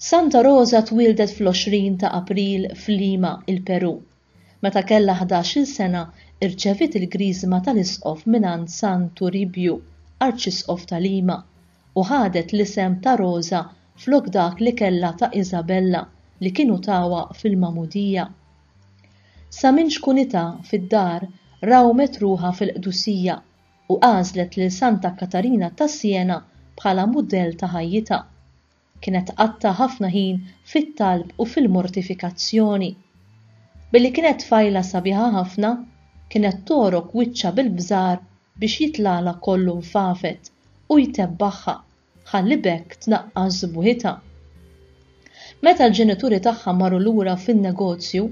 Santa Rosa twieldet fl-20 ta' April f'Lima, il-Perù. Meta kellha ħdax-il sena, irċeviet il-Griżma tal-Isqof mingħand San Turibju, Arċisqof ta' Lima, u ħadet l-isem ta' Rosa flok dak li kellha ta' Isabella li kienu tawha fil-magħmudija. Sa minn xkunità fid-dar rawmet ruħha fil-qdusija u għażlet lil Santa Katarina ta' Siena bħala mudell ta' ħajjitha. Kienet tqatta' ħafna ħin fit-talb u fil-mortifikazzjoni. Billi kienet tfajla sabiħa ħafna, kienet togħrok wiċċha bil-bżar biex jitlagħlha kollu nfafet u jtebbaħha ħalli b'hekk tnaqqas sbuħitha. Meta l-ġenituri tagħha marru lura fin-negozju,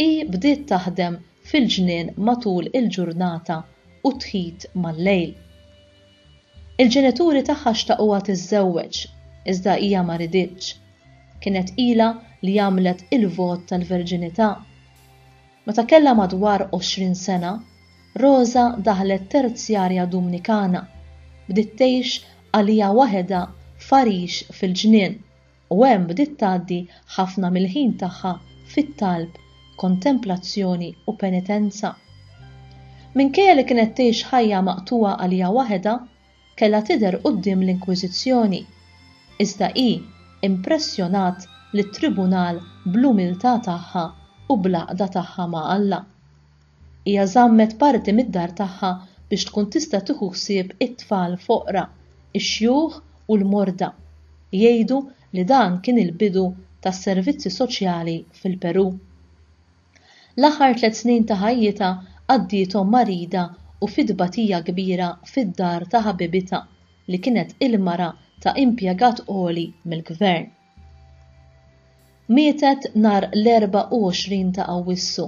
hi bdiet taħdem fil-ġnien matul il-ġurnata u tħit mal-lejl. Il-ġenituri tagħha xtaquha tiżżewweġ, iżda hija ma riditx. Kienet ilha li għamlet il-vot tal-verġinità. Meta kellha madwar għoxrin sena, Rosa daħlet terzjarja Dumnikana. Bdiet tgħix għaliha waħedha f'għarix fil-ġnien, u hemm bdiet tgħaddi ħafna mill-ħin tagħha fit-talb, kontemplazzjoni u penitenza. Minkejja li kienet tgħix ħajja maqtugħa għaliha waħedha, kellha tidher quddiem l-Inkwiżizzjoni, iżda hi impressjonat lit-tribunal bl-umiltà tagħha u bl-għaqda tagħha ma' Alla. Hija żammet parti mid-dar tagħha biex tkun tista' tieħu ħsieb it-tfal foqra, ix-xjuħ u l-morda. Jgħidu li dan kien il-bidu tas-servizzi soċjali fil-Perù. L-aħħar tliet snin ta' ħajjitha qaddiethom marida u fi tbatija kbira fid-dar ta' ħabibitha li kienet il-mara ta' impjegat għoli mill-Gvern. Mietet nhar l-24 ta' Awwissu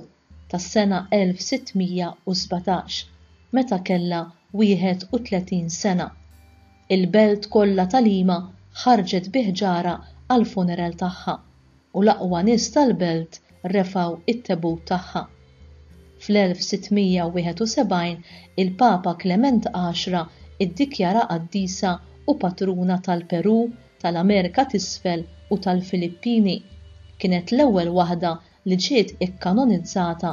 tas-sena 1617 meta kellha 31 sena. Il-belt kollha ta' Lima ħarġet bi ħġarha għall-funeral tagħha. u l-aqwa nies tal-belt refgħu t-tebut tagħha. Fl-1671 il-Papa Klement Għaxra ddikjaraha qaddisa u patruna tal-Perù, tal-Amerika t'Isfel u tal-Filippini. Kienet l-ewwel waħda li ġiet ikkanonizzata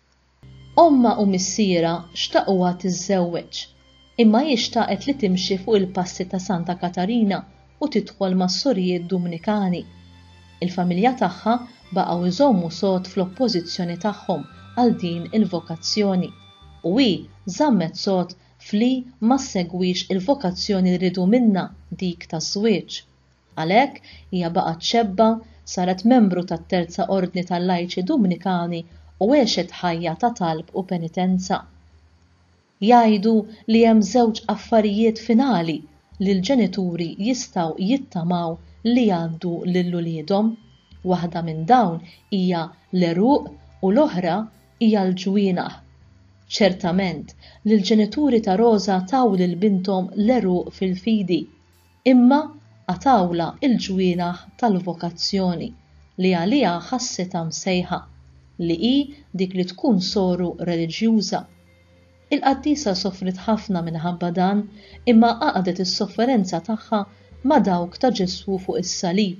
Ommha u missierha xtaquha tiżżewweġ, imma hi xtaqet li timxi fuq il-passi ta' Santa Katarina u tidħol mas-Sorijiet Dumnikani. Il-familja tagħha baqgħu jżommu sod fl-oppożizzjoni tagħhom għal din il-vokazzjoni, u hi żammet sod f'li ma ssegwix il-vokazzjoni li riedu minnha, dik taż-żwieġ. Għalhekk, hija baqgħet xebba, saret membru tat-Terza Ordni tal-Lajċi Dumnikani u għexet ħajja ta' talb u penitenza. Jgħidu li hemm żewġ affarijiet finali li l-ġenituri jistgħu jittamaw li jgħaddu lil uliedhom, waħda minn dawn hija l-għeruq u l-oħra hija l-ġwienaħ. Ċertament li l-ġenituri ta' Roża taw lil binthom l-għeruq fil-fidi. Imma qatgħulha l-ġwienaħ tal-vokazzjoni li għaliha ħassitha msejħa, li hi dik li tkun soru reliġjuża. Il-qaddisa sofriet ħafna minħabba dan imma għaqdet is-sofferenza tagħha ma' dawk ta' Ġesù fuq is-salib,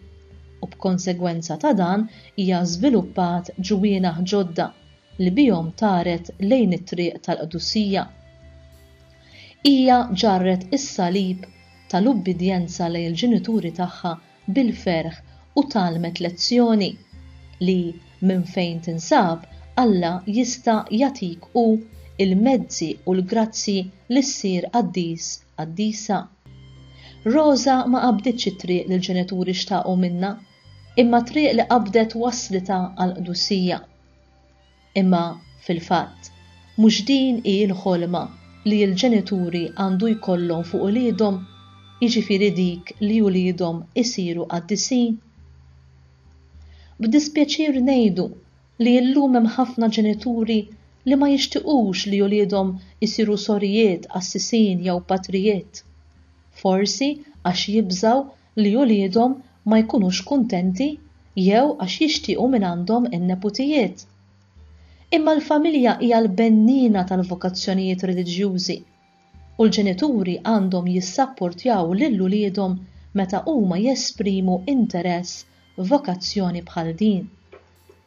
u b'konsegwenza ta' dan hija żviluppat ġwienaħ ġodda li bihom taret lejn it-triq tal-qdusija. Hija ġarret is-salib tal-ubbidjenza lejn il-ġenituri tagħha bil-ferħ u tgħallmet lezzjoni, li minn fejn tinsab Alla jista' jagħtik hu l-mezzi u l-grazzji li ssir qaddis, qaddisa. Roża ma qabditx it-triq li l-ġenituri xtaqu minnha, imma t-triq li qabdet wasslitha għall-qdusija. Imma, fil-fatt, mhux din hi l-ħolma li l-ġenituri għandu jkollhom fuq uliedhom, jiġifieri dik li uliedhom isiru qaddisin? B'dispjaċir ngħidu li llum hemm ħafna ġenituri li ma jixtiqux li uliedhom isiru sorijiet qassisin jew patrijiet, forsi għax jibżgħu li uliedhom ma jkunux kuntenti jew għax jixtiequ minn għandhom in-neputijiet. Imma l-familja hija l-benniena tal-vokazzjonijiet reliġjużi, u l-ġenituri għandhom jissapportjaw lil uliedhom meta huma jesprimu interess f'vokazzjoni bħal din.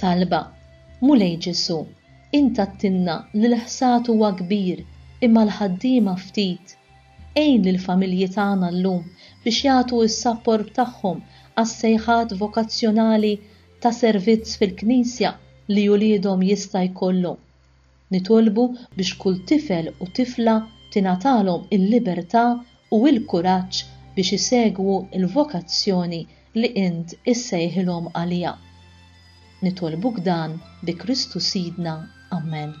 Talba, Mulej Ġesù, int għdtilna li l-ħsad huwa kbir imma l-ħaddiema ftit. Għin lill-familji tagħna llum biex jagħtu s-sapport tagħhom għas-sejħat vokazzjonali ta' servizz fil-Knisja li uliedhom jista' jkollhom. Nitolbu biex kull tifel u tifla tingħatalhom il-libertà u l-kuraġġ biex isegwu l-vokazzjoni li Int issejħilhom għaliha. Nitolbuk dan bi Kristu Sidna. Amen.